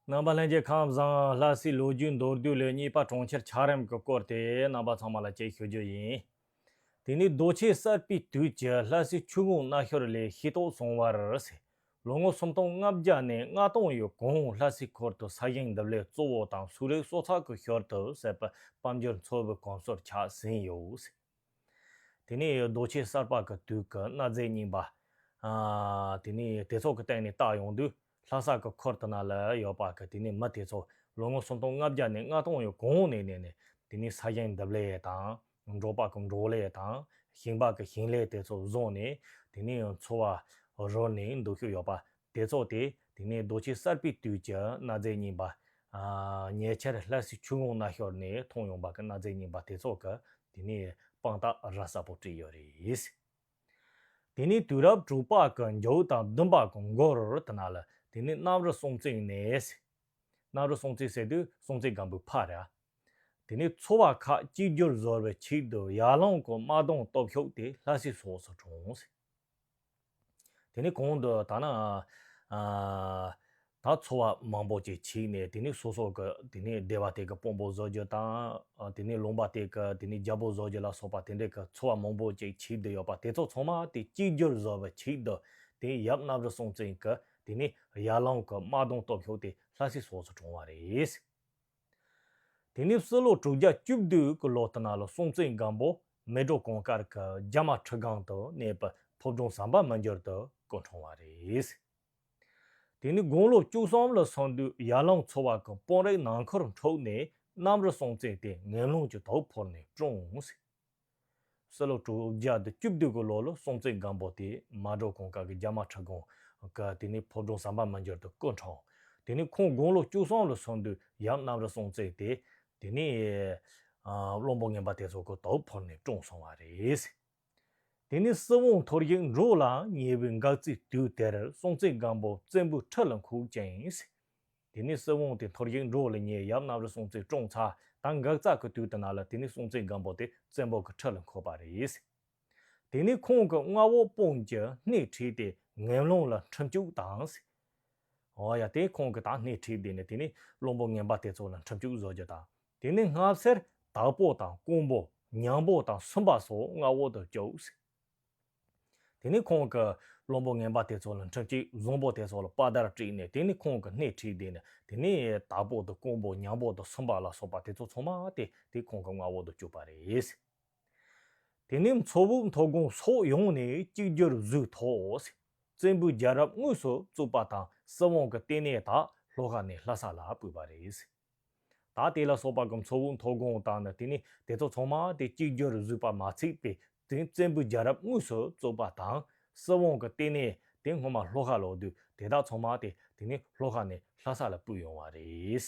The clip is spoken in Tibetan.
རྣམ་པ་ལྷན་རྒྱས་ཁམས་བཟང་ལྷ་སའི་ལོ་རྒྱུས་མདོར་བསྡུས་ལས་གཉིས་པ་གྲོང་ཁྱེར་འཁྱགས་རོམ་གྱི་སྐོར་དེ་རྣམ་པ་ཚང་མ་ལ་དཔྱད་ཞུ་རྒྱུ་ཡིན། དེ་ནི་རྡོ་ཆས་གསར་པའི་དུས་ཀྱི་ལྷ་སའི་ཆུ་ཀོང་སྣ་ཤོར་ལས་ཤེས་རྟོགས་སོང་བར་ཟད། ལོ་ངོ་སུམ་སྟོང་ལྔ་བརྒྱ་ནས་ལྔ་སྟོང་ཡོད་གོང་ལྷ་སའི་འཁོར་དུ་ས་ཞིང་འདེབས་ལས་གཙོ་བོ་དང་སུག་རིགས་གསོ་ཚགས་ཀྱི་ཞོར་དུ་ཟད་པའི་དཔལ་འབྱོར་འཚོ་བའི་གོམས་སྲོལ་ཆགས་ཟིན་ཡོད། དེ་ནས་རྡོ་ཆས་གསར་པ་གི་དུས་ཀྱི་གནའ་རྫས་རྙིང་པ། དེ་ནས་དེ་ཚོ་གི་སྟེང་ནས་བརྟག་ཡོང་དུས་ལྷ་ས་གི་ཁོར་དུ་ན་ལ་ཡོད་པ་གི་དེ་ནས་མི་དེ་ཚོ་ལོ་ངོ་སུམ་སྟོང་ལྔ་བརྒྱ་ནས་ལྔ་སྟོང་ཡི་གོང་ནས་གནས་ནས་དེ་ནས་ས་ཞིང་འདེབས་ལས་དང། འབྲོག་པ་གི་འབྲོག་ལས་དང། ཞིང་པ་གི་ཞིང་ལས་དེ་ཚོ་བཟུང་ནས་དེ་ནས་འཚོ་བ་རོལ་ནས་འདུག་ཤུགས་ཡོད་པ་དེ་རྫོགས་ཏེ་དེ་ནས་རྡོ་རྗེ་གསར་པའི་དུས་ཀྱི་གནའ་རྫས་རྙིང་པ། ཉེ་ཆར་ལྷ་སའི་ཆུ་ཀླུང་སྣ་ཤོར་ནས་མཐོང་ཡོང་བ་གི་གནའ་རྫས་རྙིང་པ་དེ་ཚོ་གི་དེ་ནས་དཔང་རྟགས་ར་གསར་པོ་བྲིས་ཡོད་རེད། དེ་ནས་དུས་རབས་དྲུག་པ་གི་མཇུག་དང་བདུན་པ་གི་མགོ་རུ་དེ་ན་ལ་དེ་ནས་གནམ་རུ་སྲོང་བཙན་ཡིན། གནམ་རུ་སྲོང་བཙན་ཟེར་དུས་སྲོང་བཙན་སྒམ་པོའི་ཕ་ར། དེ་ནས་ཚོ་བ་ཁག་གཅིག་རྒྱུ་བཟོ་བའི་ཆེད་དུ་ཡར་ལངས་སྐོར་དམག་དོང་སྟོབས་ཤོག་དེ་ལྷ་སའི་སོགས་སུ་བྲོངས། དེ་ནི་གོང་དུ་དག་ན། ད་འཚོ་བ་མང་པོ་ཅིག་བྱིས་ནས་དེ་ནི་སོ་སོ་གི་དེ་ནི་སྡེ་བ་དེ་གི་དཔོན་པོ་བཟོ་རྒྱུ་དང། དེ་ནི་ལུང་པ་དེ་གི་དེ་ནི་རྒྱལ་པོ་བཟོ་རྒྱུ་ལ་སོགས་པ་དེ་འདྲའི་གི་འཚོ་བ་མང་པོ་ཅིག་བྱིས་དུ་ཡོད་པ་དེ་ཚོ་ཚང་མ་དེ་གཅིག་གྱུར་བཟོ་བའི་བྱིས་དུ་དེ་ཡབ་གནའ་བོའི་སྲོང་བཙན་གི་དེ་ནི་ཡར་ལངས་གི་དམག་དོང་སྟོབས་ཤུགས་དེ་ལྷ་སའི་སོགས་སུ་བགྲོང་བ་རེད། དེ་ནས་སྲིད་ལོ་དྲུག་བརྒྱ་བཅུ་བདུན་གྱི་ལོ་སྟེང་ལ་སྲོང་བཙན་སྒམ་པོ་མེ་གྲོ་གོང་དཀར་གྱི་རྒྱ་མ་ཁྲི་སྒང་དུ་གནས་པའི་ཕོ་བྲང་ཟམ་པ་མི་འགྱུར་དུ་སྐུ་འཁྲུངས་བ་རེད། དེ་ནས་དགུང་ལོ་བཅུ་གསུམ་ལ་སང་དུས་ཡར་ལངས་ཚོ་བ་གྱི་དཔོན་རིགས་ནང་ཁུར་འཁྲུགས་ནས་གནམ་རི་སྲོང་བཙན་དེ་ངན་ལུང་གྱི་དོག་ཕོར་ནས་བསྐྲུངས། སྲོད་ལོ་དྲུག་བརྒྱ་དང་བཅུ་བདུན་གྱི་ལོ་ལོ་སྲོང་བཙན་སྒམ་པོ་དེས་མ་འགྲོ་གོང་དཀར་གྱི་རྒྱ་དམག་ཁྲི་སྒང། དཀར་དེ་ནས་ཕོ་བྲང་ཟམ་པ་མི་འགྱུར་དུ་སྐུ་འཁྲུངས། དེ་ནས་ཁོང་དགུང་ལོ་བཅུ་གསུམ་ལ་སོན་དུས་ཡབ་རྣམ་ར་སྲོང་བཙན་དེ། དེ་ནས། བློན་པོ་ངན་པ་དེ་ཚོ་གོ་དོག་ཕོར་ནས་བཀྲོངས་སོང་བ་རེད། དེ་ནས་སྲིད་དབང་ཐོར་ཡིག་འབྲུག་ལ་ཉེ་བའི་འགག་རྩའི་དུས་དེར་སྲོང་བཙན་སྒམ་པོ་བཙན་པོའི་ཁྲི་ལ་འཁུགས་ཅིང། དེ་ནས་སྲིད་དབང་དེ་འཐོར་ཞིག་འགྲོ་ལ་ཉེ་ཡབ་གནམ་རི་སྲུང་བརྩི་བཀྲོངས་ཚར་དང་འགག་རྩ་གི་དུས་དེ་ན་ལ་དེ་ནས་སྲུང་བརྩི་སྒམ་པོ་དེ་བཙན་པོ་གི་ཁྲི་ལ་འཁོད་པ་རེད། དེ་ནས་ཁོང་གི་མངའ་འོག་དཔུང་གི་སྣེ་ཁྲིད་དེ་ངན་རླུང་ལ་འཁྲིམས་སྐྱུག་དང། ཨོ་ཡ་དེ་ཁོང་གི་དང་སྣེ་ཁྲིད་དེ་ནས་དེ་ནས་བློན་པོ་ངན་པ་དེ་ཚོ་ལ་འཁྲིམས་སྐྱུག་བཟོ་རྒྱུ་དང་དེ་ནས་སྔ་བསེར་དྭགས་པོ་དང་ཀོང་པོ་ཉང་པོ་དང་སུམ་པ་སོགས་མངའ་འོག་ཏུ་བཅུགས། དེ་ནས་ཁོང་གི་བློན་པོ་ངན་པ་དེ་ཚོ་ལ་འཁྲབ་ཅིག་བཟང་པོ་དེ་ཚོ་ལ་དཔའ་དར་དཀྲིགས་ནས་དེ་ནས་ཁོང་གི་སྣེ་ཁྲིད་དེ་ནས་དེ་ནས་དྭགས་པོ་དང་ཀོང་པོ་ཉག་པོ་དང་སུམ་པ་ལ་སོགས་པ་དེ་ཚོ་ཚང་མ་དེ་དེ་ཁོང་གི་མངའ་འོག་ཏུ་བཅུག་པ་རེད། དེ་ནས་མཚོ་བོད་མཐོ་སྒང་སོགས་ཡོངས་ནས་གཅིག་གྱུར་བཟོས་ཐོག་བཙན་པོའི་རྒྱལ་རབས་དངོས་སུ་བཙུགས་པ་དང་སྲིད་དབང་གི་ལྟེ་གནས་དག་ལྷོ་ཁ་ནས་ལྷ་ས་ལ་བུད་པ་རེད། ད་དེ་ལ་སོགས་པ་གམ་ཚོགས་དབུ་མཐོ་སྒོང་དང་ནི་དེ་ནས་དེ་ཚོགས་ཚང་མ་དེ་གཅིག་གྱུར་བཟོད་པ་མ་ཚིག་པའི་དོན་བཙན་པོའི་རྒྱལ་རབས་དངོས་སུ་རྩོད་པ་དང། སྲིད་དབང་གི་སྟེང་ནས་དེ་སྔོན་མ་ལྷོ་ཁ་ལོག་དུས་དེ་དག་ཚང་མ་དེ་དེ་ནས་ལྷོ་ཁ་ནས་ལྷ་ས་ལ་བུད་ཡོང་བ་རེད།